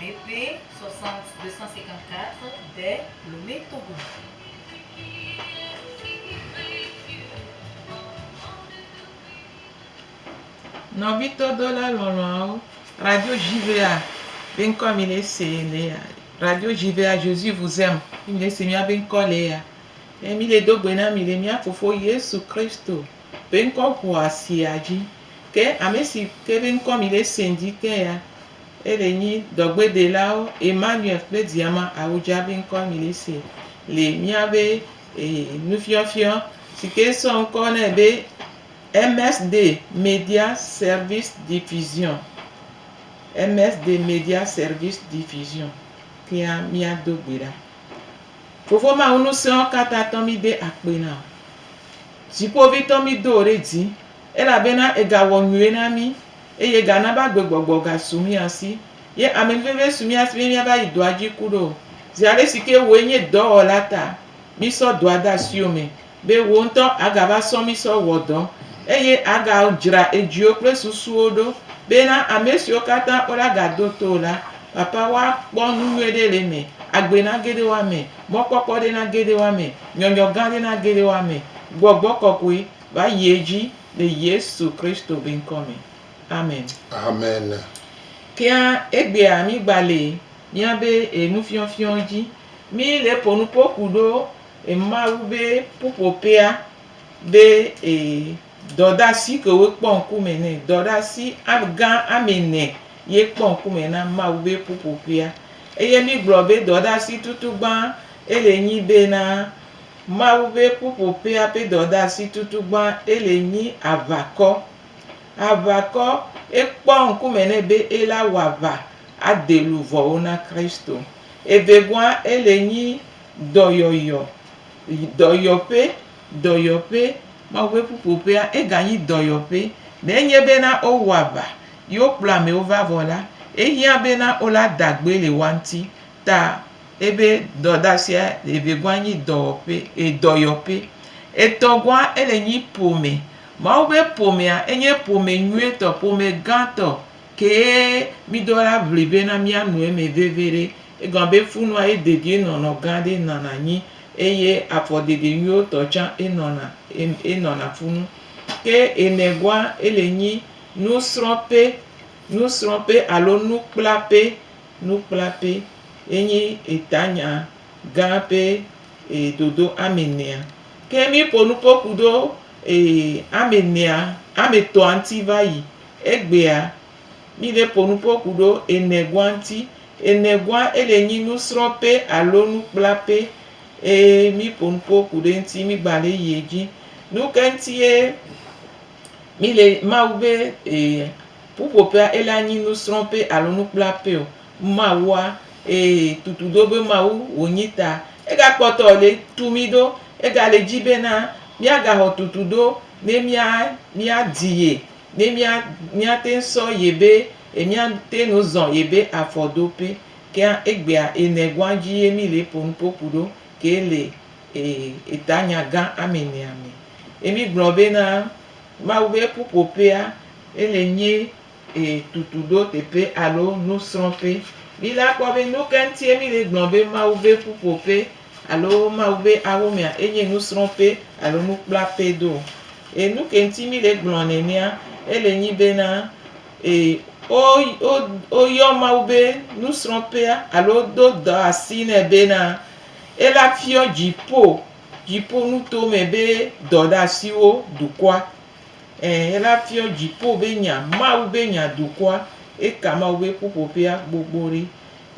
BP 60254 de Lomé Togo. Nɔvitɔ dɔla lɔlɔawo, Radio JVA be ŋkɔ mi le se le ya. Radio JVA Jésus vous aime. Mi le se mia be ŋkɔ le ya. Ye mi le do gbe na mi le mia fofo Yesu Kristo be ŋkɔ ŋua sia dzi. Ke ame si ke be ŋkɔ mi le se dzi te ya, Ele nyi dɔgbedelawo Emmanuel kple Diama Awudjabi ŋkɔ nyli si le míabe nufiɔfiɔ si ke sɔ ŋkɔ nɛ be MSD Media Service Diffusion, MSD Media Service Diffusion kea míado gbe ɖa. Fofo Mawu ŋusẽwo katã tɔ mí de akpe na wò. Dziƒovitɔ mí do wò ɖe dzi elabena ègawɔ nyuie na mí. eye gana be agbegbɔgbɔ gasu mía si. Ye ame veve su mía si be míava yi dɔa dzi ku ɖo. Zi aɖe si ke wòe nye dɔwɔla ta, mísɔ dɔa de asiwò me be wò ŋutɔ àgava sɔ mí sɔ wɔ dɔ, eye àgadzra edziwo kple susuwo ɖo bena ame siwo katã wole agado to wò la, Papa, woakpɔ nu nyui ɖe le eme, agbe na geɖe woame, mɔkpɔkpɔ ɖe na geɖe woame, nyɔnyɔ gã ɖe na geɖe woame, gbɔgbɔ kɔkɔe. va yi edzi le Yesu Kristo be ŋkɔ me. Amen. Amen. Kea egbea mi gba le mia be e nufiɔfiɔ dzi. Mi le po nu po ku ɖo e Mawu be ƒuƒoƒea be e dɔdasi ke wo kpɔ ŋku me ne. Dɔdasi gã ame ne ye kpɔ ŋku me na Mawu be ƒuƒoƒea. Eye mi gblɔ be dɔdasi tutu gbã ele nyi be na Mawu ƒe ƒuƒoƒea ƒe dɔdeasi tutugbã ele nyi aʋakɔ. Aʋakɔ ekpɔa ŋkume nɛ be ela wɔ aʋa ade luvɔwo na Kristo. Evegɔa ele nyi dɔyɔyɔ, dɔyɔƒe, dɔyɔƒe. Mawu ƒe ƒuƒoƒea ega nyi dɔyɔƒe. Ne enye be na wo wɔ aʋa ye wo kplɔ amewo va vɔ la, ehiã be na wo la da gbe le woa ŋuti ta ebe dɔdasia evegɔa nyi dɔwɔƒe e dɔyɔƒe. Etɔgɔa ele nyi ƒome. Mawu be ƒomea enye ƒome nyuietɔ, ƒome gãtɔ kee miɖo la ŋli bena miano eme veviɖe. Egɔme be funua ye dedienɔnɔ gã ɖe nɔna anyi eye afɔɖeɖe nyuiwo tɔ tsã enɔna em enɔna funu. Ke enegɔa ele nyi nusrɔ̃ƒe, nusrɔ̃ƒe alo nukplaƒe Nukplape ye nyi etanya gã pe e dodo ame nɛa. Ke mi ƒo nu kpo kudo e ame nɛa, ame tɔa ŋti va yi. Egbea, mi le ƒo nu kpo kudo enegua ŋti. Enegua e le nyi nusrɔ pe alo nukplape e mi ƒo nu kpo kudo eŋti mi gba le yi edzi. Nuke ŋti ye mi le Mawu be e. Ƒuƒoƒea ele anyi nusrɔ̃ƒe alo nukplaƒe o. Mawua, ee, tutu ɖo be Mawu wònyi ta. Egakpɔtɔ le tu mí ɖo. Egale dzi bena míagaxɔ tutu ɖo ne mía, míadi Ye, ne mía, míate ŋu sɔ Ye be, e, míate ŋu zɔ Ye be afɔdoƒe. Kea egbea, ene gɔ̃a dzi ye mí le ƒonu ƒoƒu ɖo ke le, ee, etanya gã amenea me. Ye mí gblɔ bena, Mawu ƒe ƒuƒoƒea ele nye e tutu ɖo teƒe alo nusrɔ̃ƒe. Mi la kpɔ be nu ka ŋutie mi le gblɔ be Mawu ƒe ƒuƒoƒe alo Mawu ƒe awomea enye nusrɔ̃ƒe alo nukplaƒe do. E nu ke ŋuti mi le gblɔ nenea ele nyi be na e wo wo woyɔ Mawu be nusrɔ̃ƒea alo wodo dɔ asi nɛ be na ela fiɔ dziƒo Dziƒonuto me be dɔɖeasiwo dukɔa, ẽ, ela fiɔ dziƒo be nya, Mawu be nya dukɔa, eka Mawu be ƒuƒoƒea gbogbo ɖi.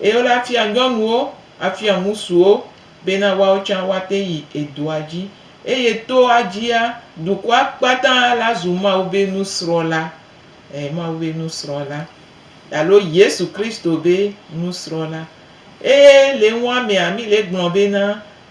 Eye wole afia nyɔnuwo, afia ŋusuwo bena woawo tsã woate yi edɔa dzi. Eye toa dzia, dukɔa kpata la zu Mawu be nusrɔ̃la, ẽ, Mawu be nusrɔ̃la, alo Yesu Kristo be nusrɔ̃la. Eye le nuamea, mi le gblɔ bena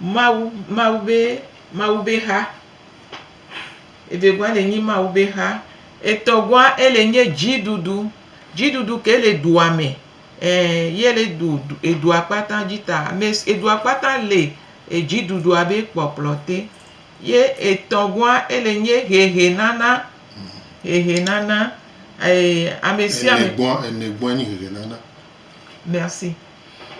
Mawu, Mawu be, Mawu be xa. Evegɔa le nyi Mawu be xa. Etɔgɔa ele nye dziɖuɖu. Dziɖuɖu ke le dua me. Ɛ, ye le du, edua kpata dzi ta. Ame si, edua kpata le edziɖuɖua be kpɔkplɔ te. Ye etɔgɔa ele nye hehenana. Hehenana. Ɛ, ame sia ame. Enegɔa, enegɔa nyi hehenana. Merci.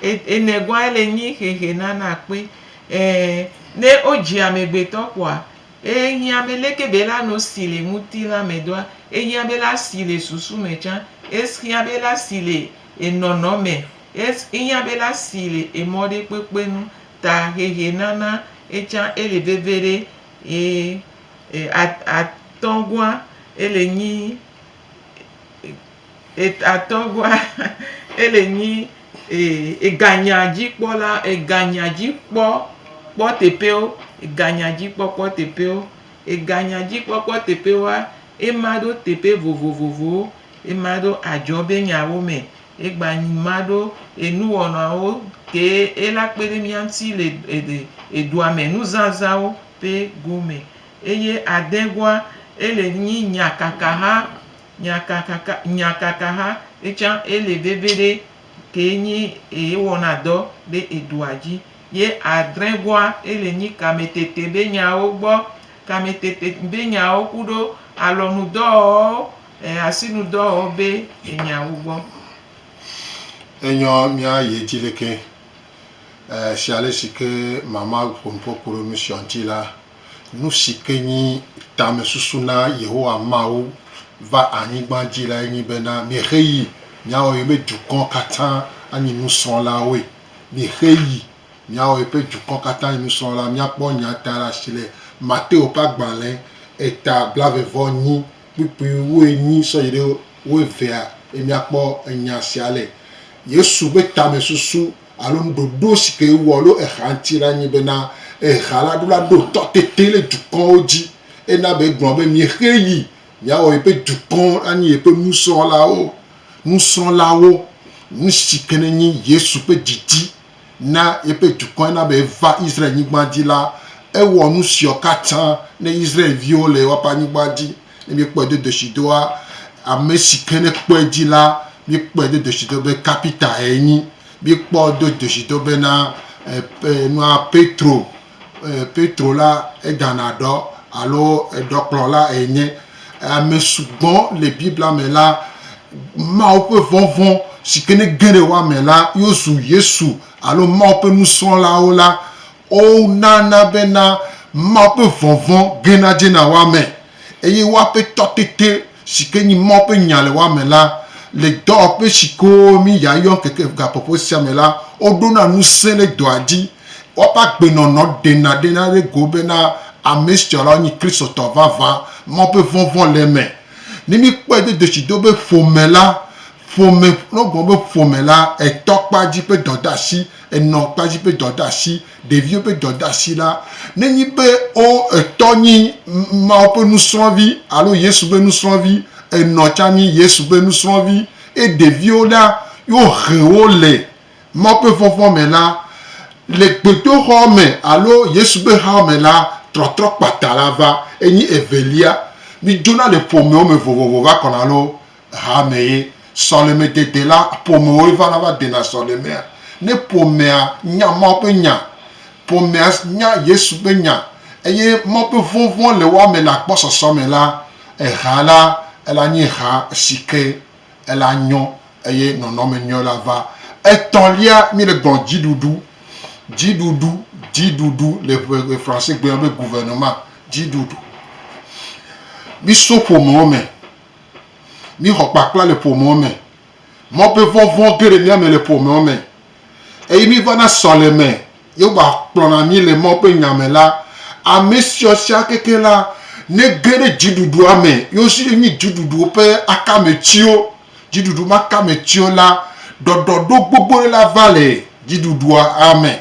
Enɛ gɔn ele nyi xexe nana akpe. E ne wo dzi amegbetɔ kɔa, e hiã be leke be la no si le ŋutilã me doa, e hiã be la si le susu me tsã, e hiã be la si le enɔnɔ me, e hiã be la si le emɔ ɖe kpekpe nu. Ta xexe nana etsã ele veve ɖe e e a a tɔgɔa ele nyi. Atɔ̃gɔa, ele nyi eganyadzikpɔla, eganyadzikpɔkpɔteƒewo, eganyadzikpɔkpɔteƒewo, eganyadzikpɔkpɔteƒewoa, ema ɖo teƒe vovovowo, ema ɖo adzɔbenyawo me, egba ma ɖo enuwɔnawo kee ela kpe ɖe mía ŋuti le edua me nuzazãwo ƒe gome. Eye adegɔa, ele nyi nyakakaha. Nya kaka ka, nya kaka ha etsã ele veviɖe kee nyi eye wɔna dɔ ɖe eɖoa dzi. Ye adrẽ goa ele nyi kame tete be nyawo gbɔ, kame tete be nyawo kuɖo alɔnu dɔwɔwɔ e asinu dɔwɔwɔ be enyawo gbɔ. Enyɔ mía ye dzi lekee e shialesi ke mama ƒonuƒo kuɖo nusiɔ ŋti la, Nu si ke nye tamesusu na Yehowa Mawu va anyigba dzi lae nye bena miexe yi miawɔ yeƒe dukɔ katã anyi nusrɔ̃lawoe. Miexe yi miawɔ yeƒe dukɔ katã anyi nusrɔ̃la. Míakpɔ nyaa ta ɖe asi le Mateo ƒe agbalẽ eta blaeve-vɔ-enyi kpukpui wu enyi sɔ yi ɖe wu evea ye míakpɔ enya sia le. Yesu ƒe tamesusu alo nuɖoɖo si ke wowɔ alo exa ŋuti la nye bena exa la ɖo la ɖo tɔ tete le dukɔwo dzi ena be egblɔ be miexee yi miawɔ yeƒe dukɔ anyi yeƒe nusrɔ̃lawo, nusrɔ̃lawo, nusi ke nenye Yesu ƒe didi na yeƒe dukɔ ena be eva Israel nyigba dzi la, ewɔ nusiɔ katã ne Israel viwo le woaƒe anyigba dzi. Ne míekpɔe do ɖeshidoa, ame si ke ne kpɔe dzi la, míekpɔe do ɖeshido be kapitae enyi. Míekpɔ do ɖeshido bena nua Petro, Petro la edana ɖɔ alo eɖɔkplɔla enye. Ame sugbɔ le Biblia me la, Mawu ƒe vɔvɔ̃ si ke ne ge ɖe woa me la, yewozu Yesu alo Mawu ƒe nusrɔ̃lawo la. Wonana bena Mawu ƒe vɔvɔ̃ gena dzena wo ame, eye wo Aƒetɔ tete, si ke nye Mawu ƒe nya le wo ame la. Le dɔwɔƒe si ke womi yayɔ ŋkeke gaƒoƒo sia me la, woɖona ŋusẽ ɖe dɔa dzi. Woƒe agbenɔnɔ ɖena ɖena ɖe go bena ame sia lawo nye Kristotɔ vavã. Mawu ƒe vɔvɔ̃ le eme. Ne míkpɔe do dzesi do be ƒome la, ƒome, ne wogblɔ be ƒome la, etɔkpadzi ƒe dɔdeasi Enɔ kpadzi be dɔdeasi, ɖeviwo be dɔdeasi la, nenyi be wo etɔ nyi Mawu ƒe nusrɔ̃vi alo Yesu ƒe nusrɔ̃vi, enɔ tsã nyi Yesu ƒe nusrɔ̃vi. Eye ɖeviwo la, yo he wo le Mawu ƒe vɔvɔ̃ me la, le gbedoxɔ me alo Yesu ƒe hao me la, trɔtrɔ kpata la va. Enyi evelia. Midzona le ƒomewo me vovovo va kɔna loo. Hame ye sɔlemedede la ƒomewoe vana va dena sɔlemea. Ne ƒomea nya Mawu ƒe nya, ƒomea nya Yesu ƒe nya, eye Mawu ƒe vɔvɔ̃ le woa me le agbɔsɔsɔ me la, ehea la, ela nye ha si ke ela nyɔ eye nɔnɔme nyɔ la va. Etɔ̃lia, míele gblɔm dziɖuɖu. Dziɖuɖu, dziɖuɖu le ƒe Fransegbe me be gouvernement, dziɖuɖu. Míso ƒomewo me. Míxɔ kpakpla le ƒomewo me. Mɔvevɔvɔ̃ ge ɖe mía me le ƒomewo me. Eye mívana sɔleme. Yehowa kplɔna mí le Mawu ƒe Nya me la, ame siɔ sia keke la, nege ɖe dziɖuɖua me. Yewo si ye nyi dziɖuɖu ƒe akametiwo. Dziɖuɖu ma kametiwo la, ɖɔɖɔɖo gbogbo ɖe la va le dziɖuɖua me.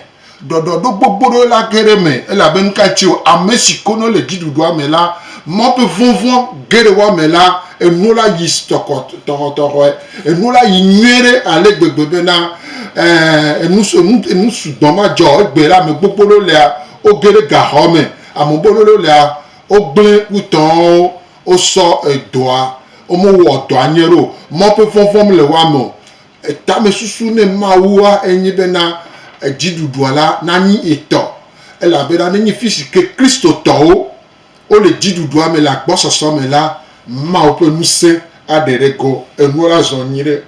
Ɖɔɖɔɖo gbogboɖo la ge ɖe eme elabe nuka ci o, ame si konɔ le dziɖuɖua me la, Mawu ƒe vɔvɔ̃ ge ɖe woa me la, enuwo la yi tɔxɔtɔxɔe, enuwo la yi nyuie ɖe ale gbegbe bena, ɛɛ, enu sugbɔ madzɔ egbe la ame gbogboɖo lea, woge ɖe gaxɔ me, ame gbogboɖo lea, wogblẽ wu tɔwo, wosɔ edɔa, womewɔ dɔa nyuie ɖe o, Mawu ƒe vɔvɔ̃ mele woa me o, Tamesusu ne Mawua enye bena dziɖuɖua la nanyi etɔ, elabena nenye fisi ke Kristotɔwo wole dziɖuɖua me le agbɔsɔsɔ me la, Mawu ƒe ŋusẽ aɖe ɖe go, enuwo la zɔ nyuiɖe.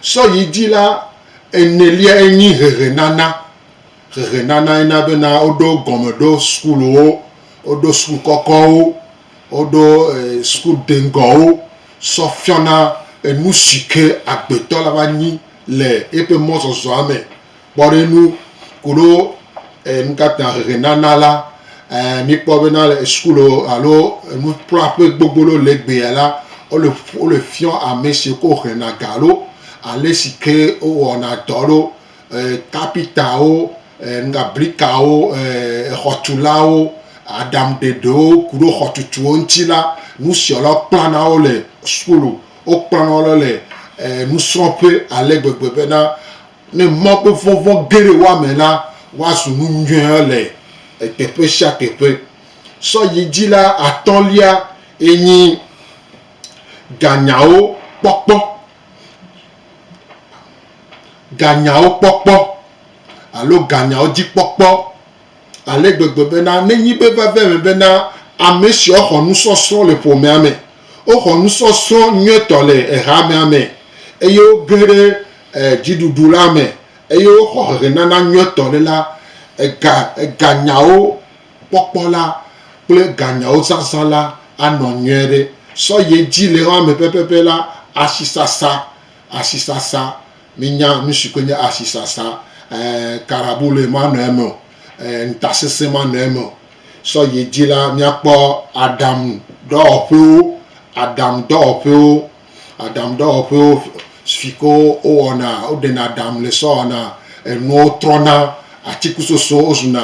Sɔ yi dzi la, eneliae nyi hehenana. Hehenanae na bena woɖo gɔme ɖo sukuwo, woɖo suku kɔkɔwo. Woɖo sukudeŋgɔwo sɔ fiɔna nusike agbetɔ la va nyi le eƒe mɔzɔzɔa me. Kpɔɖeŋu koɖo nukatã hehenana la, míkpɔ bena le suku alo nuƒlɔaƒe gbogbo loo legbea la, wole fiɔ amesiwo ke wohlena ga loo alesike wowɔna dɔ loo, kapitawo, brikawo, xɔtulawo, aɖaŋuɖeɖewo ku ɖe xɔtutu ŋuti la, nufialawo kplana wo le sukulu, wokplana wo le nusrɔ̃ƒe ale gbegbe bena ne Mawu ƒe vɔvɔ̃ ge ɖe woa me la, woazu nu nyui le teƒe sia teƒe. Sɔ yi dzi la, atɔ̃lia enye ganyawo kpɔkpɔ. Ganyawo kpɔkpɔ alo ganyawo dzi kpɔkpɔ ale gbegbe bena nenyi be veve me bena ame siwo xɔ nusɔsrɔ̃ le ƒomea me, woxɔ nusɔsrɔ̃ nyuietɔ le ehamea me eye woge ɖe dziɖuɖu la me eye woxɔ hehenana nyuietɔ ɖe la, eganyawo. kpɔkpɔ la kple ganyawo zazã la anɔ nyuie ɖe. Sɔhɛ dzi le xɔa me pɛpɛpɛ la, asisasa, asisasa, minya nu si koe nye asisasa, e, karabule manɔ eme o, e, ŋutasesẽ manɔ eme o. Sɔhɛ dzi la, míakpɔ aɖaŋudɔwɔƒewo, aɖaŋudɔwɔƒewo, aɖaŋudɔwɔƒewo si ke wowɔna, woɖena aɖaŋu le sɔwɔna, enuwo trɔna, atikusosowo zuna,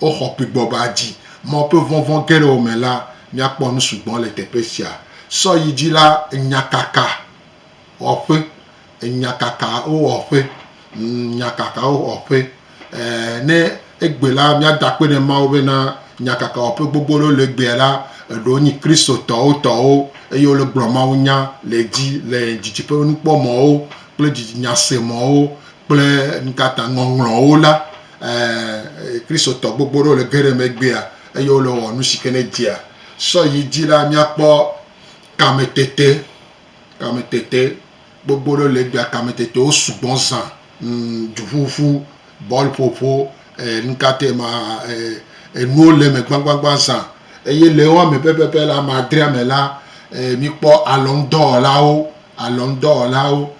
Woxɔ kpegbɔ be adi mɔ woƒe vɔvɔ̃ geɖewo me la, míakpɔ nu sugbɔ le teƒe sia. Sɔ yi dzi la, nyakaka wɔƒe, nyakakawo wɔƒe, nyakakawo wɔƒe. Ɛɛ, ne egbe la, míada akpe ɖe Mawu bena nyakakawɔƒe gbogbo aɖewo le egbea la, eɖewo nyi Kristotɔwo tɔwo eye wole gblɔ mawunya le edzi le didiƒenukpɔmɔ̃wo kple didinyase mɔ̃wo kple nukata ŋɔŋlɔwo la, ɛɛ, Kristotɔ gbogbo ɖewo le ge ɖe eme egbea eye wole wɔwɔ nu si ke ne dzea sɔ yi dzi la. Míakpɔ kametete, kametete gbogbo ɖewo le egbea. Kametetewo sugbɔ zã, ŋ, duƒuƒu, bɔlƒoƒo, e, nukatae ma, e, enuwo le eme gbãgbãgbã zã. Eye le wo me pɛpɛpɛ la, ame adrea me la, e, míkpɔ alɔnudɔwɔlawo, alɔnudɔwɔlawo.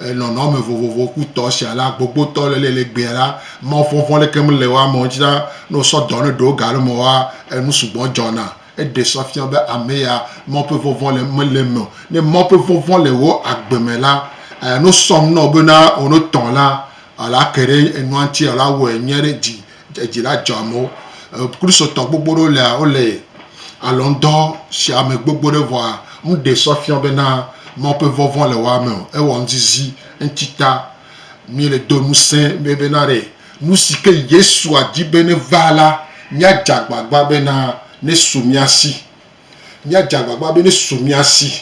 nɔnɔme vovovo ku tɔ sia la, gbogbotɔ le le gbea la, mɔvɔvɔ̃ ɖeke mele wo amewo dzi la, ne wosɔ dɔ ne ɖewo ga ɖe me woa, enu sugbɔ dzɔna. Eɖe sɔ fiã be ame ya mɔ ƒe vɔvɔ̃ le mele eme o. Ne mɔ ƒe vɔvɔ̃ le wò agbe me la, ne wosɔ nu na wò bena wò ne tɔ la, wòla ke ɖe enua ŋuti alo awɔe nyuie ɖe dzi Dzi la dzɔ amewo. Kristotɔ gbogbo ɖewo lea wole alɔnudɔ sia me gbogbo ɖe vɔa nu ɖe sɔ fiɔ bena Mawu ƒe vɔvɔ̃ le woa me o. Ewɔ nuzizi eŋuti ta. Míele do ŋusẽ be bena ɖe nu si ke Yesua di be neva la, míadze agbagba bena nesu mía si Míadze agbagba be nesu mía si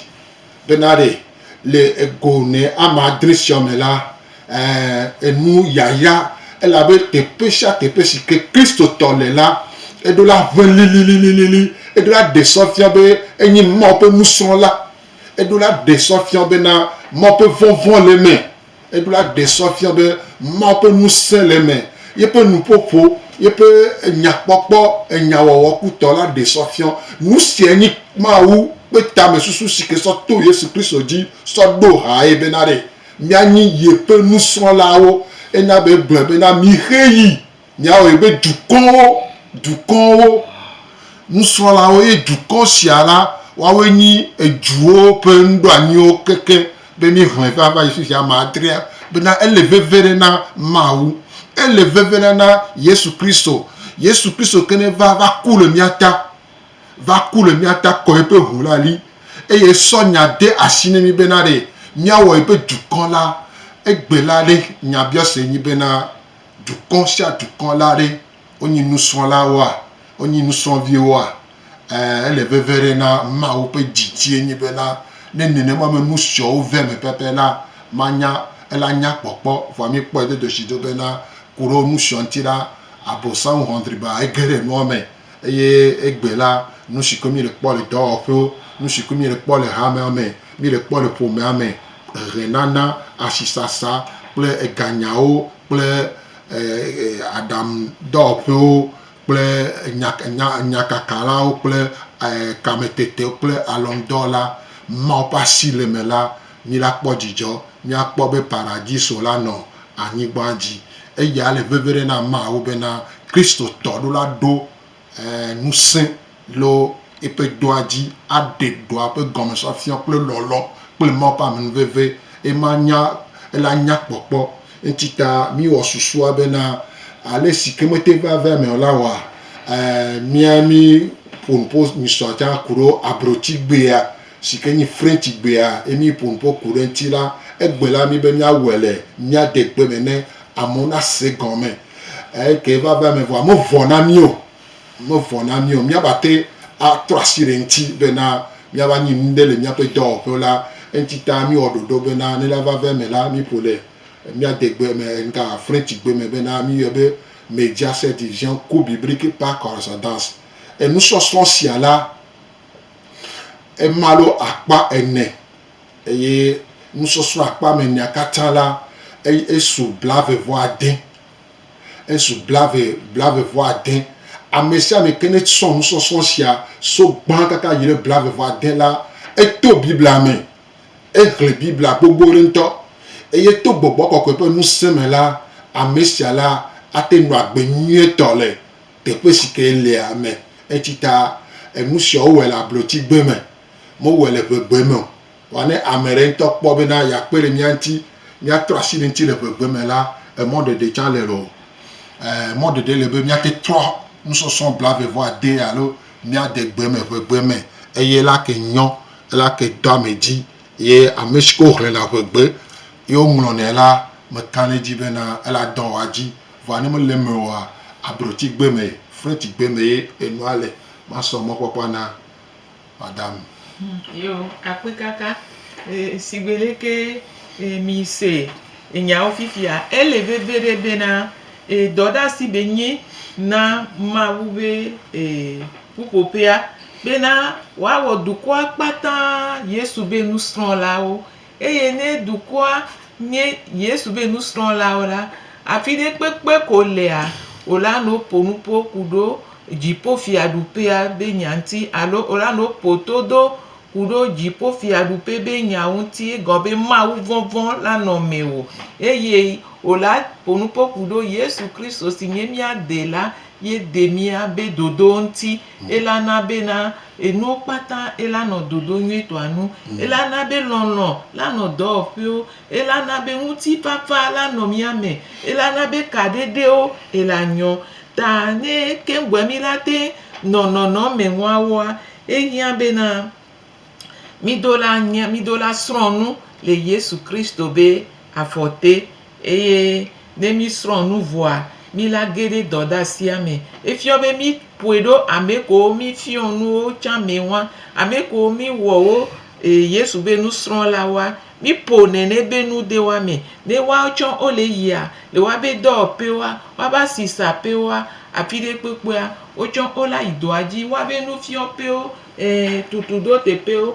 bena ɖe le ego ne ame adre siawo me la, ɛ̃, enu yayra, elabe teƒe sia teƒe si ke Kristotɔ le la, eɖo la ʋẽ lilililili, eɖo la ɖe sɔ fia be enye Mawu ƒe nusrɔ̃la, eɖo la ɖe sɔ fia wo bena Mawu ƒe vɔvɔ̃ le eme. Ebiblia ɖe srɔ̃ fia be Mawu ƒe ŋusẽ le eme. Yeƒe nuƒoƒo, yeƒe nyakpɔkpɔ, enyawɔwɔ kutɔ la ɖe srɔ̃ fia. Nu siae nye Mawu ƒe tamesusu si ke sɔ to Yesu Kristo dzi sɔ ɖo hae bena ɖe míanyi yeƒe nusrɔ̃lawo. Enya be egblɔe bena, Mixe yi. Míawɔe be dukɔwo, dukɔwo, nusrɔ̃lawo, eye dukɔ sia la, woawoe nyi eduwo ƒe nuɖoanyiwo keke be míeʋãe va va yi fi sia ame adrea. Bena ele veve ɖe na Mawu. Ele veve ɖe na Yesu Kristo. Yesu Kristo ke neva va ku le mía ta, va ku le mía ta, kɔ eƒe ʋu la li, eye sɔ nya de asi ne mí bena ɖe míawɔe be dukɔ la. Egbe la ɖe nyabiɔse nyi bena. dukɔ sia dukɔ la ɖe, wonyi nusrɔ̃lawoa, wonyi nusrɔ̃viwoa, ẽ, ele veve ɖe na Mawu ƒe didiɛ nyi bena, ne nenema me nu siɔwo ve me pɛpɛ la, manya, ela nya kpɔkpɔ. Vɔa mí kpɔɛ dodoshi do bena, ku ɖe wo nu siɔ ŋuti la, Abosam hɔndriba ege ɖe nua me. eye egbe la nusike mí le kpɔ le dɔwɔƒewo, nusike mí le kpɔ le hamea me, mí le kpɔ le ƒomea me, ehe nana, asi sasa kple ega nyawo kple aɖaŋu dɔwɔƒewo kple enya kaka la kple kame tete kple alɔnudɔwɔla mawo ƒe asi le eme la. Mila kpɔ dzidzɔ miakpɔ be Paradiso la nɔ anyigbã dzi. Eya le veve ɖe na ameawo bena Kristotɔ ɖo la ɖo ŋusẽ lo eƒe dɔa dzi aɖe dɔa ƒe gɔmefiafia kple lɔlɔ kple Mawu ƒe amenuveve ema nya ela nya kpɔkpɔ. Enti ta miwɔ susua bena ale si ke mete va vea me o la wɔa mia mi ƒonuƒo misɔa tsã kuɖo abrotigbea si ke nyi Frenchigbea ye míeƒo nu ƒo ku ɖe eŋuti la, egbe la mí be míawɔe le míadegbe me ne amewo nase gɔme. Eke va va eme vɔa, mevɔ na mí o. Mevɔ na mí o. Míava te atrɔ asi ɖe eŋuti bena míava nyi nu ɖe le míaƒe dɔwɔƒewo la, eŋuti ta míwɔ ɖoɖo bena ne la va va eme la, míeƒo le míadegbe me ŋga Frenchigbe me bena míyɔe be Médiaset Vision Cours Biblique par Correspondance. Enusɔsrɔ̃ sia la, ema alo akpa ene eye nusɔsrɔ̃ akpa me enea katã la eye esu blave vɔ ade esu blave blave vɔ ade ame sia ame ke ne srɔ̃ nusɔsrɔ̃ sia so gbã kaka yi ɖe blave vɔ ade la eto biblia me ehle biblia gbogbo ɖe ŋutɔ eye to gbɔgbɔ kɔkɔe ƒe ŋusẽ me la ame sia la ate ŋu agbe nyuietɔ le Teƒe si ke lea ame etsi ta enu sia wowɔe le ablɔti gbe me, mewɔe le ʋe gbe me o. Vɔa ne ame ɖe ŋutɔ kpɔ bena yeakpe ɖe mía ŋuti, míatrɔ asi ɖe eŋuti le ʋe gbe me la, emɔ ɖeɖe tsã le loo. Ɛɛ, mɔ ɖeɖe le be míate trɔ nusɔsrɔ̃ blaeve vɔ ade alo míade gbe me ʋe gbe me eye ela ke nyɔ, ela ke do ame dzi ye ame si ke woxlẽna ʋe gbe ye woŋlɔnɛ la, mekã ɖe edzi bena ela dɔ wɔa edzi. Vɔa ne mele eme oa, abrɔtigbe me, frɛtigbe me ye enua le. Masɔ mɔkpɔkpɔa na madame. Yo, akpekaka. Sigbe leke mi se nyawo fifia, ele veviɖe bena dɔɖeasi be nyi na Mawu be ƒuƒoƒea bena woawɔ dukɔa kpata Yesu be nusrɔlawo Eye ne dukɔa nye Yesu be nusrɔ̃lawo la, afi ɖe kpekpe ko wòlea, wòlanɔ woƒo nu ƒo ku ɖo Dziƒofiaɖuƒea be nya ŋuti, alo wòlanɔ woƒo to do ku ɖo Dziƒofiaɖuƒe be nya ŋuti, egɔme be Mawuvɔvɔ̃ lanɔ mewò. Eye wòlaƒo nu ƒo ku ɖo Yesu Kristo si nye mía Dela ye de mía be dodowo ŋuti, elana be na Enuwo kpata ela nɔ dodo nyuitɔa nu. Ela na be lɔlɔ̃ la nɔ dɔwɔƒewo. Ela na be ŋutifafa la nɔ mía me. Ela na be kaɖeɖewo ela nyɔ. Ta ne ke ŋgbɔe mí la te nɔ nɔnɔme ŋuawoa, ehiã bena mí do la nya, mí do la srɔ̃ nu le Yesu Kristo be afɔ te. Eye ne mísrɔ̃ nu vɔa, míla ge ɖe dɔdasia me. Efiɔ be míƒoe ɖo ame kewo mífiɔ nuwo tsã me ŋua, ame kewo míwɔ wo Yesu be nusrɔ̃lawoa, míƒo nɛnɛ be nu de woa me. Ne woawo tsã wole yia le woabe dɔwɔƒewoa, woabe asisaƒewoa, afi ɖe kpekpea, wo tsã wolayi dɔa dzi, woabe nufiɔƒewo, e tutuɖoteƒewo.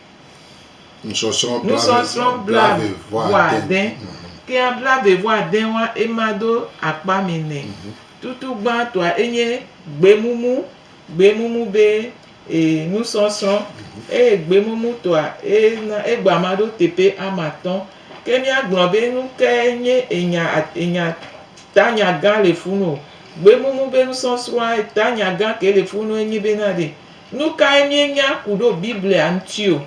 Nusɔsrɔ̃ blaeve-vɔ-ade, Kea blaeve-vɔ-ade wa ema do akpa mɛ nɛ. Tutu gbãtɔa enye gbemumu, gbemumu be nusɔsrɔ̃. Eye gbemumutɔa ena egba ma ɖo teƒe ame atɔ̃. Ke míagblɔ be nu kae nye enya enya tanya gã le funu o. Gbemumu be nusɔsrɔ̃a tanya gã ke le funu enye bena ɖe Nukae míenya ku ɖo Biblia ŋuti o?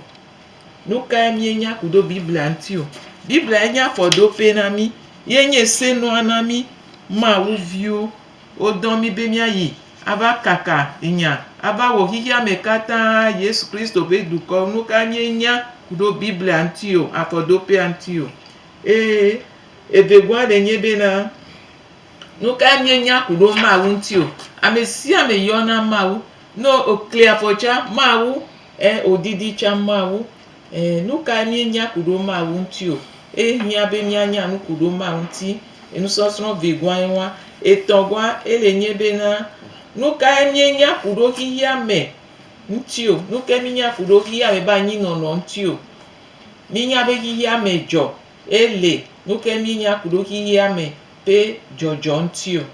Nukae míenya ku ɖo Biblia ŋuti o? Bibliae nye afɔɖoƒee na mí. Ye nye senɔa na mí. Mawu viwo, wodɔ mí be míayi ava kaka nya, ava wɔ xexea me katã Yesu Kristo ƒe dukɔ. Nukae míenya ku ɖo Biblia ŋuti o, afɔɖoƒea ŋuti o? Ee, evegɔa ɖe nye bena, Nukae míenya ku ɖo Mawu ŋuti o? Ame sia ame yɔna Mawu No okli afɔ tsa mawu e odidi tsa mawu e nukae mi nya ku ɖo mawu ŋti o e hia be mia nya nu ku ɖo mawu ŋti enusɔsrɔ vi gua ewa etɔ gua ele nye be na nukae mi nya ku ɖo xixia me ŋti o nuke mi nya ku ɖo xixia me ba nyi nɔnɔ ŋti o mi nya be xixia me dzɔ Ye le nuke mi nya kuɖo xixia me ƒe dzɔdzɔ ŋuti o.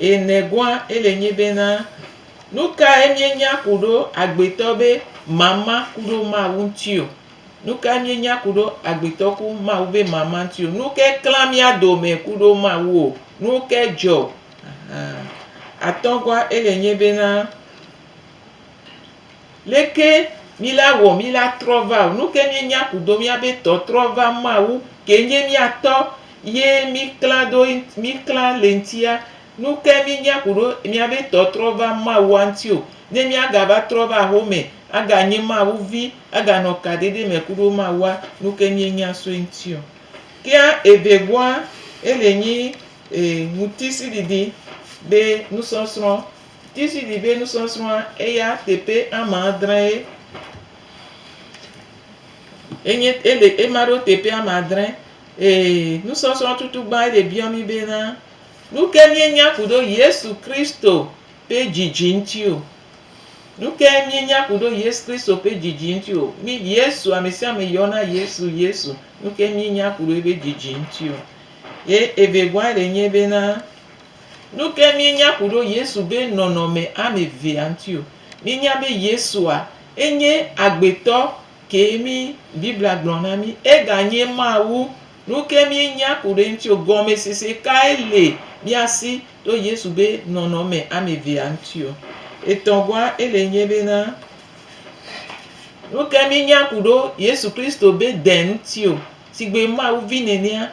Ye nɛgoa ele nyi be na, nukae mi nya kuɖo agbetɔ be mama kuɖo Mawu ŋuti o? Nukae mi nya kuɖo agbetɔ ku Mawu be mama ŋuti o? Nuke klã mia dome kuɖo Mawu o? Nuke dzɔ? Ahan. Atɔgoa ele nyi be na, Leke mi la wɔ mi la trɔ va o? Nuke mi nya kudo mia be tɔ trɔ va Mawu ke nye mia tɔ ye mi kla do mi kla le ŋtia? Nuke mi nya kudo mia be tɔ trɔ va Mawua ŋti o? Ne mia ga va trɔ va axome aga nye Mawu vi aga nɔ ka ɖeɖe me kudo Mawua nuke mi nya so eŋti o? Kea eve goa ele nyi ŋutisi ɖiɖi be nusɔsrɔ. Tizidi ƒe nusɔsrɔ̃a eya teƒe ame adree enye ele ema ɖo teƒe ame adre ee nusɔsrɔ̃ tutugbã ele biɔ mí bena nuke míenya ku ɖo Yesu Kristo ƒe dzidzi ŋuti o. Nuke míenya ku ɖo Yesu Kristo ƒe dzidzi ŋuti o. Mí Yesu amesiame yɔna Yesu Yesu nuke míenya ku ɖo eƒe dzidzi ŋuti o. Ye evegɔa le nye bena Nuke míenya ku ɖo Yesu be nɔnɔme ame evea ŋuti o. Míenya be Yesua enye agbetɔ kee mí Biblia gblɔ na mí. Eganye Mawu. Nuke míenya ku ɖe eŋuti o. Gɔmesese kae le mía si to Yesu be nɔnɔme ame evea ŋuti o. Etɔ̃gɔa ele nye be na nuke míenya ku ɖo Yesu Kristo be de ŋuti o. Sigbe Mawu vi nenea,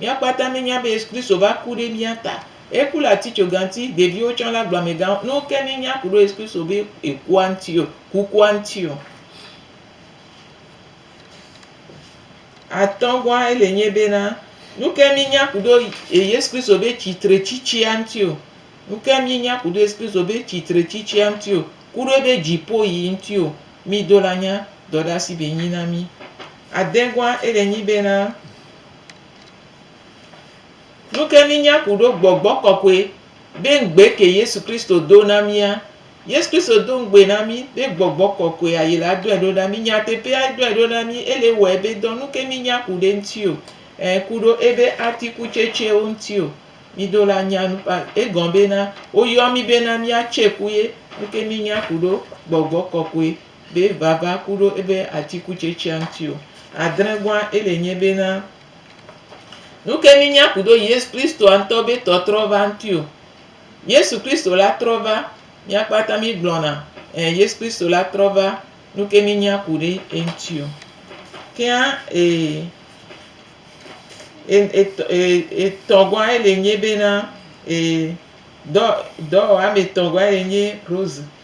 Mía kpata mí nya be Yesu Kristo va ku ɖe mía ta. Eku le atitsoga ŋuti, ɖeviwo tsã le agblɔme gã. Nuwo ke mí nya ku ɖo Yesu Kristo be ye kua ŋuti o, kukua ŋuti o. Atɔ gɔa ele nye be na, nuke mí nya ku ɖo Yesu Kristo be tsitre tsitsia ŋuti o. Nuke mí nya ku ɖo Yesu Kristo be tsitre tsitsia ŋuti o, ku ɖo ebe dzipo yi ŋuti o. Mí do la nya dɔɖasi be nyi na mí. Adɛ gɔa ele nyi be na. Nuke mínya kuɖo Gbɔgbɔ Kɔkɔɛ be ŋgbé ke Yesu Kristo do na mía. Yesu Kristo do ŋgbé na mí be Gbɔgbɔ Kɔkɔɛ a yi la dɔɛ ɖo na mí. Nyateƒea edɔɛ ɖo na mí ele wɔɛ be dɔ nuke mínya ku ɖe ŋti o, ɛ kuɖo ebe atikutsetsewo ŋti o. Mí do la nya nu pa egɔn be na wo yɔ mí be na mía tse ku ye nuke mínya kuɖo Gbɔgbɔ Kɔkɔɛ be vava ku ɖo ebe atikutsetsea ŋuti o. Adre gɔa ele nye be na nuke mi nya ku ɖo Yesu Kristoa ŋutɔ be tɔ trɔ va ŋuti o. Yesu Kristo la trɔ va, mia kpata mi gblɔna, eh, Yesu Kristo la trɔ va, nuke mi nya ku ɖe eŋuti o. Kea, eh, eh, etɔ, eh, etɔ gɔa ele nye be na, eh, dɔ, dɔwɔame tɔ gɔa ele nye Rose.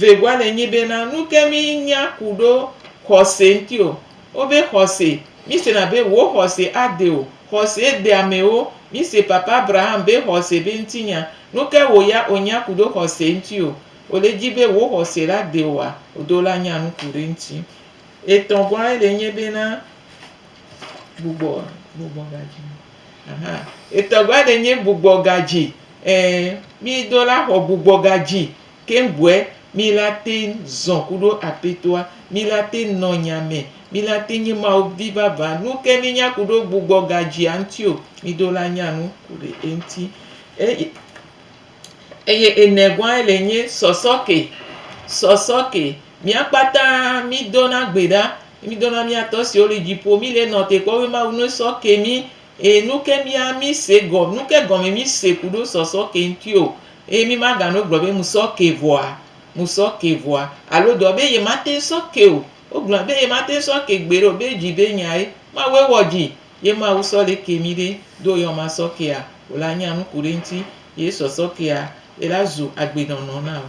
Vegɔa le nyi be na nuke mi nya kuɖo xɔse ŋti o. Wobe xɔse, mi se na be wo xɔse a de o. Xɔse de amewo. Mi se papa Abraham be xɔse be ŋti nya. Nuke wo ya o nya kuɖo xɔse ŋti o. O le dji be wo xɔse la de oa? O do la nya nuku ɖe ŋti. Etɔgɔa ele nyi be na Gbugbɔ gbugbɔ gadzi me. Aha etɔ va ɖe nye gbugbɔ gadzi e mi do la xɔ gbugbɔ gadzi ke ŋgɔe mi la te zɔ ku ɖo apetoa mi la te nɔ nya me mi la te nye mawu vi vava nu ke mi nya ku ɖo gbugbɔ gadzia ŋuti o mi do la nya nu ku ɖe eŋuti eye eye enegɔa le nye sɔsɔ ke sɔsɔ ke Mía kpata mí dona gbe ɖa, mí dona mía tɔ siwo li dziƒo, mí le nɔ te kpɔ be Mawu nue sɔ ke mí, eye nu ke mía mí se gɔ, nu ke gɔme mí se ku ɖo sɔ sɔ ke ŋuti o, eye mí ma ga no gblɔ be mu sɔ ke vɔa, mu sɔ ke vɔa, alo dɔ be ye ma teŋ sɔ ke o. Wo gblɔna be ye ma teŋ sɔ ke gbeɖe o, be dzi be nyae Mawue wɔ dzi, ye Mawu sɔ le ke mí ɖe, ɖo ye wɔ ma sɔ kea o la nya nuku ɖe ŋuti ye sɔ sɔ kea, ela zu agbe nɔnɔ na wò.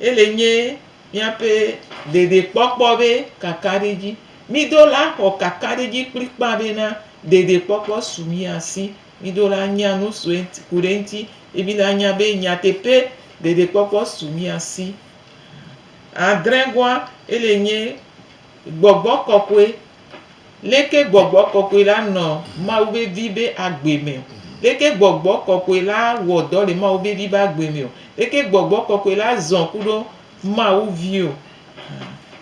Ele nye míaƒe ɖeɖekpɔkpɔ ƒe kakaɖedzi. Mído la xɔ kakaɖedzi kplikpaa bena ɖeɖekpɔkpɔ su mía si. Mído la nya nu su eŋti ku ɖe eŋti ye mí la nya be nyateƒe ɖeɖekpɔkpɔ su mía si. Adrẽgoa ele nye gbɔgbɔ kɔkɔe. Leke gbɔgbɔ kɔkɔe la nɔ Mawu vevi be agbe me o? Leke gbɔgbɔ kɔkɔe la wɔ dɔ le Mawu vevi be agbe me o? Leke gbɔgbɔ kɔkɔe la zɔn kuɖo Mawu vi o?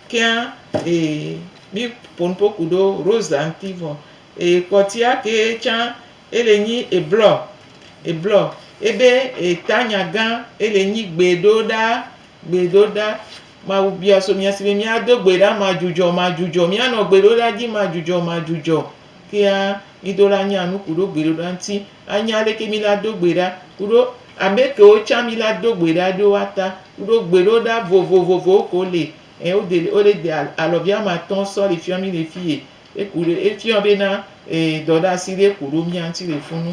Kea e mi ponpo kuɖo Rosa ŋti vɔ e kpɔtia ke tsa e le nyi eblɔ eblɔ ebe e ta nya gã e le nyi gbe ɖo ɖa Gbedoɖa, Mawu bia so mía si be míado gbe ɖa madzudzɔ madzudzɔ. Míanɔ gbedoɖa dzi madzudzɔ madzudzɔ. Kea mido la nya nu ku ɖo gbedoɖa ŋuti. Anya aleke mi la do gbe ɖa ku ɖo ame kewo tsã mi la do gbe ɖa ɖo woata ku ɖo gbedoɖa vovovovowo ke wo le. Ɛ wo de wo le de alɔvi ame atɔ̃ sɔ le fiɔ mi le fiye. Eku ɖe efiɔ be na e dɔɖasi ɖe ku ɖo mía ŋuti le funu.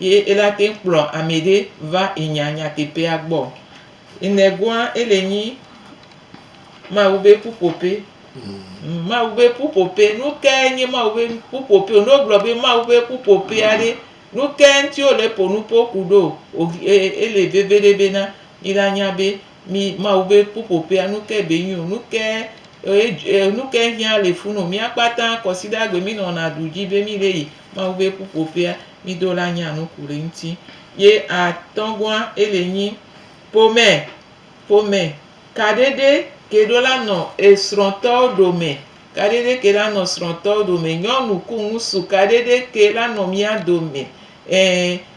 Ye ela teŋ kplɔ amɛɖe va inya nyateƒea gbɔ. Inɛgoa ele nyi Mawu be ƒuƒoƒe. Mawu be ƒuƒoƒe. Nukae nye Mawu be ƒuƒoƒe o? Ne wogblɔ be Mawu be ƒuƒoƒea ɖe, nukae ŋuti wole ƒonu ƒo ku ɖo? Ele veve ɖe bena mila nya be. Mi Mawu be ƒuƒoƒea, nu kae be nyo? Nu kae, e, nu kae hiã le fu no? Mía kpata kɔsiɖagbe mi nɔna ɖu dzi be mi ɖe yi Mawu be ƒuƒoƒea, mi do la nya nu ku ɖe eŋuti. Ye atɔ̃gɔa, ele nyi ƒome, ƒome kaɖeɖe ke ɖo la nɔ esrɔ̃tɔwo ɖome, kaɖeɖe ke la nɔ srɔ̃tɔwo ɖome, nyɔnu ku ŋusu kaɖeɖe ke la nɔ mía dome, e.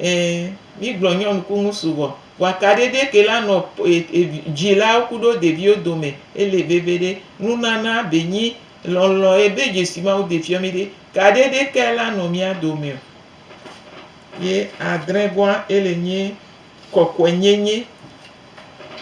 Ẽ, mígblɔ nyɔnukunu sugbɔ. Vɔa kaɖeɖe ke la nɔ dzilawo kuɖo ɖeviwo dome ele veviɖe. Nunana be nyi lɔlɔ ye be Jesu Mawu de fiɔ mi ɖe kaɖeɖe ke la nɔ mía dome o. Ye adrẽ gɔa ele nyi kɔkɔɛ nyenye.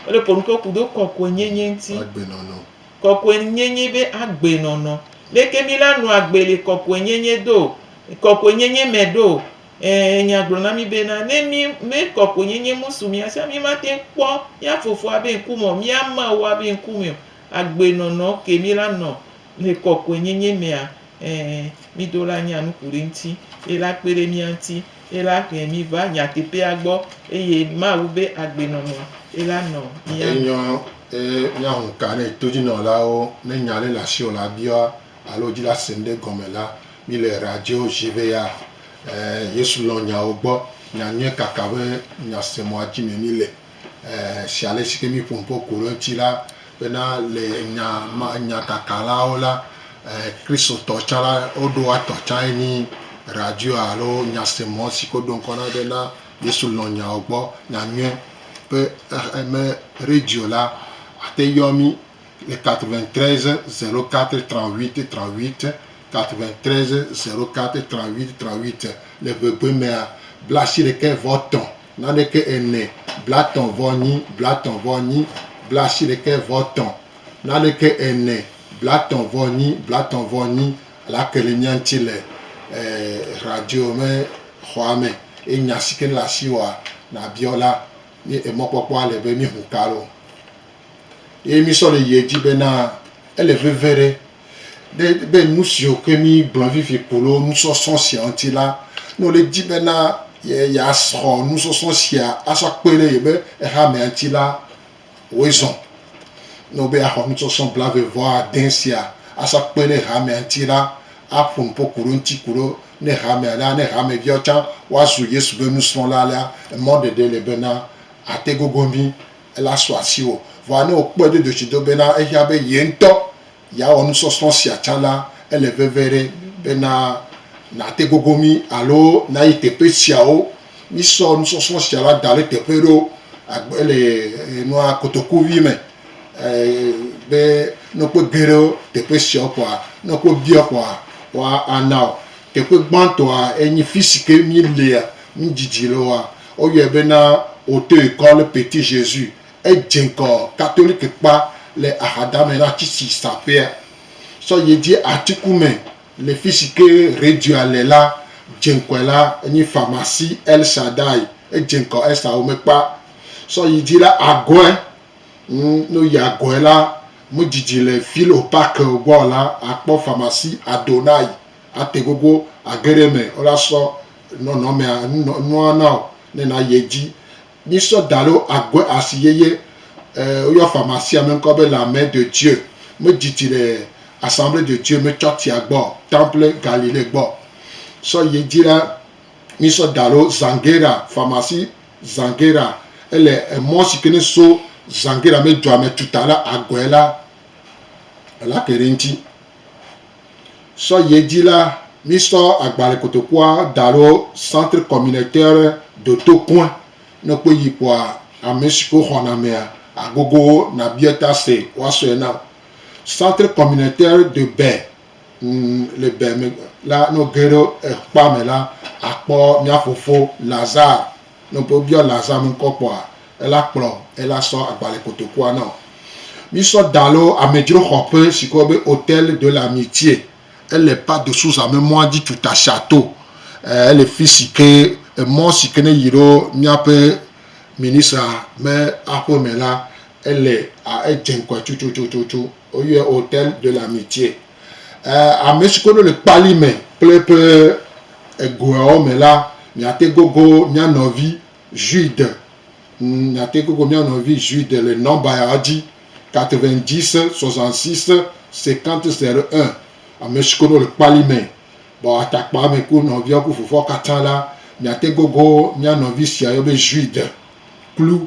Wole ƒo nuke kuɖo kɔkɔɛ nyenye ŋti. Agbenɔnɔ. Kɔkɔɛ nyenye be agbenɔnɔ. Leke mi la nɔa gbe le kɔkɔɛ nyenye do, kɔkɔɛ nyenye me ɖo? Ẽ, Nya gblɔ na mí bena, ne mí mekɔ ko nyenye ŋusu mía sia, mí mate ŋu kpɔ mía Fofoa be ŋku me o, mía Mawua be ŋku me o. Agbe nɔnɔ ke mí la nɔ le kɔkɔe nyenye mea? Ẽ, mí do la nya nuku ɖe ŋuti. Ye la kpe ɖe mía ŋuti. Ye la ƒe mí va nyateƒea gbɔ, eye Mawu be agbe nɔnɔ ye la nɔ mía me. Enyɔ, eye mía ŋu ka ne todzinɔlawo ne nya ɖe le asiwò la biɔa? alo dzi la sẽm ɖe gɔme la, mi le radio dzi be ya eh Yesu lɔn nyawo gbɔ nya nyuie kaka be nya semɔa dzi me mi le eh si ale si ke mi ƒo nuƒo ku ɖe eŋti la be na le nya ma nya kaka lawo la eh kristotɔ tsã la wo ɖo wa tɔ tsã ye nyi radio alo nya semɔ si ke wo ɖo ŋkɔ na be na Yesu lɔn nyawo gbɔ nya nyuie be eh me radio la ate yɔ mi le 93 04 38 38, 93 04 38 38, le ŋegbe mea, blaasiɖekɛ vɔ tɔ naneke ene, blatɔ vɔ nyi, blatɔ vɔ nyi, blaasiɖekɛ vɔ tɔ naneke ene, blatɔ vɔ nyi, blatɔ vɔ nyi, lake le mía ŋuti le eh, radio me xɔa me, ye nya si ke le asiwòa, nabiɔ la, mí emɔkpɔkpɔa le be mí hu ka ɖo. Ye mísɔ le yi edzi bena, ele veve ɖe be, be nu siwo ke míegblɔ vivi ku ɖe nusɔsrɔ̃ sia ŋuti la, ne wòle edzi bena yeasɔ nusɔsrɔ̃ sia asɔ akpe ɖe yeƒe hamea ŋuti la, wɔe zɔ. Ne wòle be yeaxɔ nusɔsrɔ̃ blaeve vɔ ade sia asɔ akpe ɖe hamea ŋuti la, aƒo nu ƒo ku ɖe eŋuti ku ɖe ne hamea la, ne hameviawo tsã woazu Yesu ƒe nusrɔ̃la la, emɔ ɖeɖe le bena, ate gogo mí Ela sɔ asiwò, vɔa ne wòkpɔe do dzotsido bena ehiã be ye ŋutɔ yeawɔ nusɔsrɔ̃ sia tsã la, ele veve ɖe bena nàte gogo mí alo nàyi teƒe siawo. Mísɔ nusɔsrɔ̃ sia la da ɖe teƒe ɖewo agbe le nua kotoku vi me be ne wokpe ge ɖe teƒe siawo kpɔa, ne wokpe bia wo kpɔa, woana wò. Teƒe gbãtɔa enye fi si ke mílea, mídidi le woa, Woyɔe bena Hauteuil Quand le Petit Jésus. Edze ŋgɔ Katolikekpa le axadame na tsitsi saƒea. Sɔ ye dzi atiku me le fisi ke redioa le la, dze ŋkɔe la enye Pharmacie El Shaddai. Edze ŋgɔ Esa Womekpa. Sɔ yi dzi la agɔe. Ŋ, ne woyi agɔe la, medidi le Ville au Parc gbɔ o la, akpɔ Pharmacie Adonai ate gogo age ɖe eme. Wola sɔ. Nɔnɔmea nɔ nua na wò ne nàyi edzi. Mísɔ da ɖe agbe asi yeye. Woyɔ fama sia me ŋkɔ be L'Armée de Dieu. Medzi tsi le Assemblée de Dieu me tsɔ tsia gbɔ, Temple Galilée gbɔ. Sɔ yi edzi la, mísɔ da ɖe Zanguera, famasi Zanguera. Ele emɔ si ke ne so Zanguera me dua me tuta la agɔe la, elake ɖe eŋuti. Sɔ yi edzi la, mísɔ agbalẽ kotokua da ɖo Centre Communautaire de Tokoin. Ne èkpɔe yi kpɔa, ame siwo xɔna amea, àgogo wo nàbia ta se woasɔe na wò. Centre Communautaire de Bè le Bè me la, ne wòge ɖe ekpea me la, àkpɔ mía fofo Lazare. Ne ƒe biɔ la zã ŋkɔ kpɔa, ela kplɔ ela sɔ agbalẽ kotokua nɔ. Mi sɔ da lo amedzro xɔ ƒe si kɔ be Hotel de la Mitie. Ele Pas de Sousa me mɔa dzi tu Tasha to. Ɛɛ ele fisi ke emɔ si ke ne yi ɖo miaƒe ministra me aƒe me la, ele a edze ŋkɔe tututututu. Woyɔe Hotel de la Mitie. Ame si koɖo le kpali me kple eƒe egoawo me la, miate gogo mía nɔvi Jude, miate gogo mía nɔvi Jude le nɔmba ya dzi, 90 66 50 01. Ame si koɖo le kpali me, bɔ atakpa me ku nɔviawo ku fofoawo katã la, miate gogo mía nɔvi sia yɔ be Jude kplu.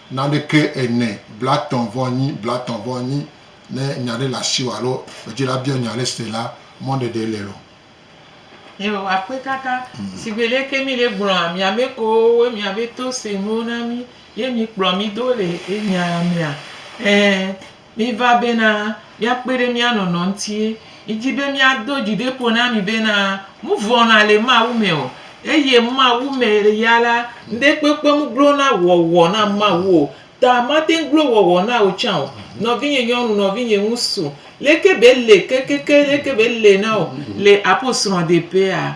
Naneke ene, blatɔ̃ vɔ nyi, blatɔ̃ vɔ nyi, ne nya ɖe le asiwò alo edzila biɔ nya ɖe se la, mɔɖeɖe le eo. Yehowa kpe kaka. Sigbe leke mi le gblɔa mia me kowo we mia be to se nuwo na mi ye mi kplɔ mi do le ye nya mia? Ɛɛ, Miva bena miakpɔe ɖe mía nɔnɔ ŋuti. Midi be miado dzi ɖi ƒo na mi bena, Nu vɔ̃na le Mawu me o, eye Mawu me ya la, ŋɖekpekpe mugblɔna wɔwɔ na Mawu o. Ta mate ŋu gblɔ wɔwɔ na wò tsã o, nɔvinye nyɔnu, nɔvinye ŋutsu. Leke be le kekeke leke be le na wò le aposrɔ̃ɖeƒea?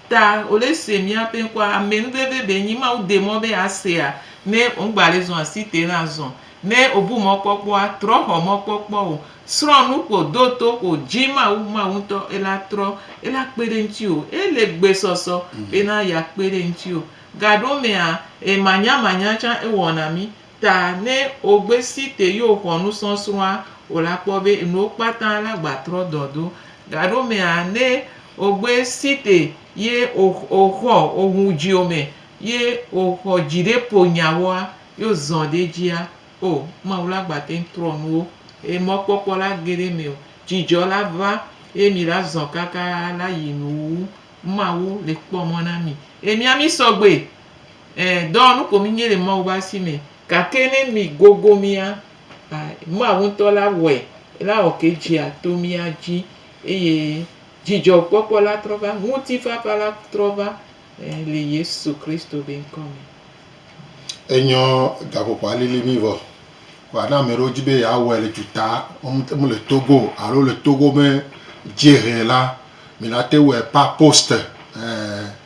Ta ole se mia ƒe ŋkɔa ame nu veve be nyi Mawu de mɔ be a sea ne ŋgba le zɔn asi te na azɔn. Ne o bu mɔ kpɔkpɔa, trɔ xɔ mɔ kpɔkpɔ o. Srɔn nu ko do to ko dji Mawu, Mawu ŋtɔ ela trɔ ela kpe ɖe ŋti o. E le gbe sɔsɔ be na ya kpe ɖe ŋti o. Gaɖo mea, e manya manya can e wɔ na mi. Ta ne ogbe si te yi oxɔ nusɔsrɔa o la kpɔ be enuwo kpata la gba trɔ dɔ do. Gaɖo mea ne ogbe si te ye oxɔ ohu dzio me ye oxɔ dzi ɖe po nyawoa ye ozɔ ɖe edzia o Mawu la gba teŋ trɔ nuwo eye mɔ kpɔkpɔ la ge ɖe eme o. Dzidzɔ la va eye mi la zɔ kaka la yi nu wu Mawu le kpɔ mɔ na mi eye mia mi sɔgbe Ẽ, dɔwɔnu ko mìnye le Mawu be asi me. Gake ne mìgogo mía, a, Mawu ŋutɔ la wɔe, ela wɔ ke dzea to mía dzi, eye dzidzɔkpɔkpɔ la trɔ va, ŋutifafa la trɔ va, ẽ, le Yesu Kristo be ŋkɔ me. Enyɔ gaƒoƒoa lili mí vɔ. Vɔa ne ame ɖewo di be yeawɔe le duta, womete ŋu le Togo o, alo le Togo be dziehe la, mìate ŋu wɔe par poste. Ẽ.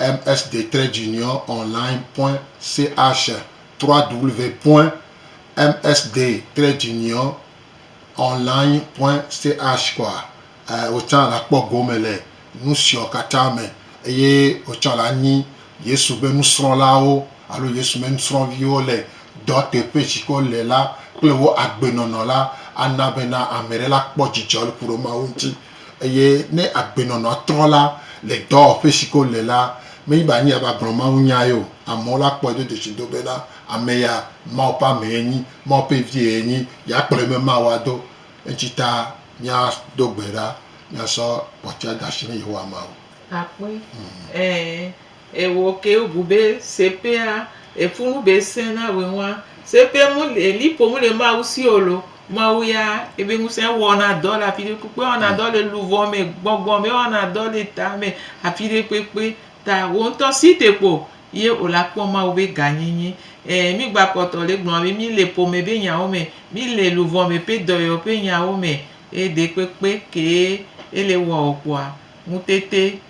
MS de Trade Union Online Point CH www.MS de Trade Union Online Point CH kɔa, wotsã la kpɔ gome le nusiɔ katã me, eye wotsã la nyi Yesu be nusrɔ̃lawo alo Yesu be nusrɔ̃viwo le dɔ teƒe si ke wole la kple wo agbenɔnɔ la ana bena ameɖe la kpɔ dzidzɔ le ku ɖe Mawu ŋuti. Eye ne agbenɔnɔa trɔ la le dɔwɔƒe si ke wole la, menye be anyi ava gblɔ mawunyae o. Amewo la kpɔe do dzesi do bena ame ya, Mawu ƒe amee yenyi, Mawu ƒe vie yenyi, yeakplɔe be Mawu ado. Eŋuti ta míado gbe ɖa míasɔ kpɔtɔea de asi na Yehowa Mawu. Akpɔe, ɛ̃, E wo ke yo bu be sepea e funu be se na we ŋua. Sepe mu le li po mu le Mawu si o lo. Mawu ya e be ŋu se wɔ na dɔ le afi ɖe kpekpe wɔ na dɔ le luvɔ me gbɔgbɔ me wɔ na dɔ le ta me afi ɖe kpekpe ta wo ŋutɔ si te kpo ye o la kpɔ Mawu be ga nyi nyi. E mi gba kpɔtɔ le gblɔ be mi le po me be nya wo me mi le luvɔ me pe dɔyɔ pe nya wo me e de kpekpe ke e le wɔ o kpoa ŋutete.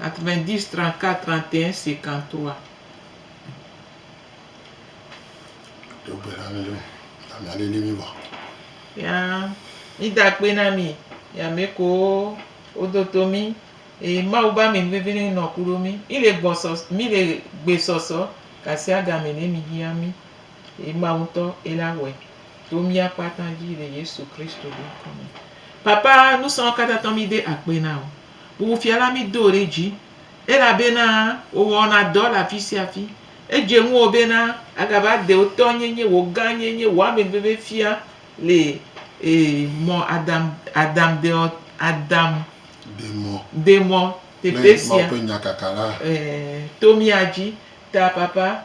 90 34 31 53. Do gbe na mí ɖo, na míalili mí vɔ. Ya mída akpe na mí, yi ame kewo wodo to mí, eye Mawu be amenuveve nɛ nɔ kuɖo mí. Mí le gbɔ sɔ, mí le gbe sɔsɔ gasiagame nɛ mí hiã mí, eye Mawu ŋutɔ ye la wɔe to mía kpata dzi le Yesu Kristo be ŋkɔ me. Papa, nusrɔ̃ katã tɔ mí de akpe na wò. Wò fia la, mido ɖe dzi, elabena wò wɔna dɔ le afi sia afi. Edze ŋuwò bena agava de wò tɔ nyenye, wò gã nyenye, wò ame veve fia le ee mɔ Adam, Adam deɔ, Adam demɔ demɔ teƒe sia. Mawu ƒe nya kaka la. Ee, to mía dzi, ta papa,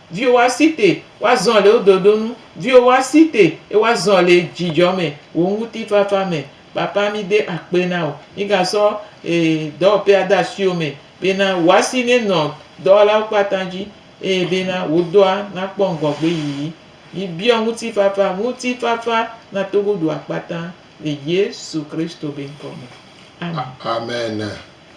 Viwo wa si te wa zɔn le wo dodo nu, viwo wa si te e wa zɔn le djidjɔ me, wo ŋuti fafa me. Papa mi de akpe na wo. Mi ga sɔ e dɔwɔpe a de asi wo me be na wo asi ne nɔ dɔwɔla wo kpata dji eye be na wo dɔa na kpɔ ŋgɔgbe yiyi. Mi biɔ ŋuti fafa, ŋuti fafa na Togo dua kpata le Yesu Kristo be ŋkɔ me. Amen. Amen.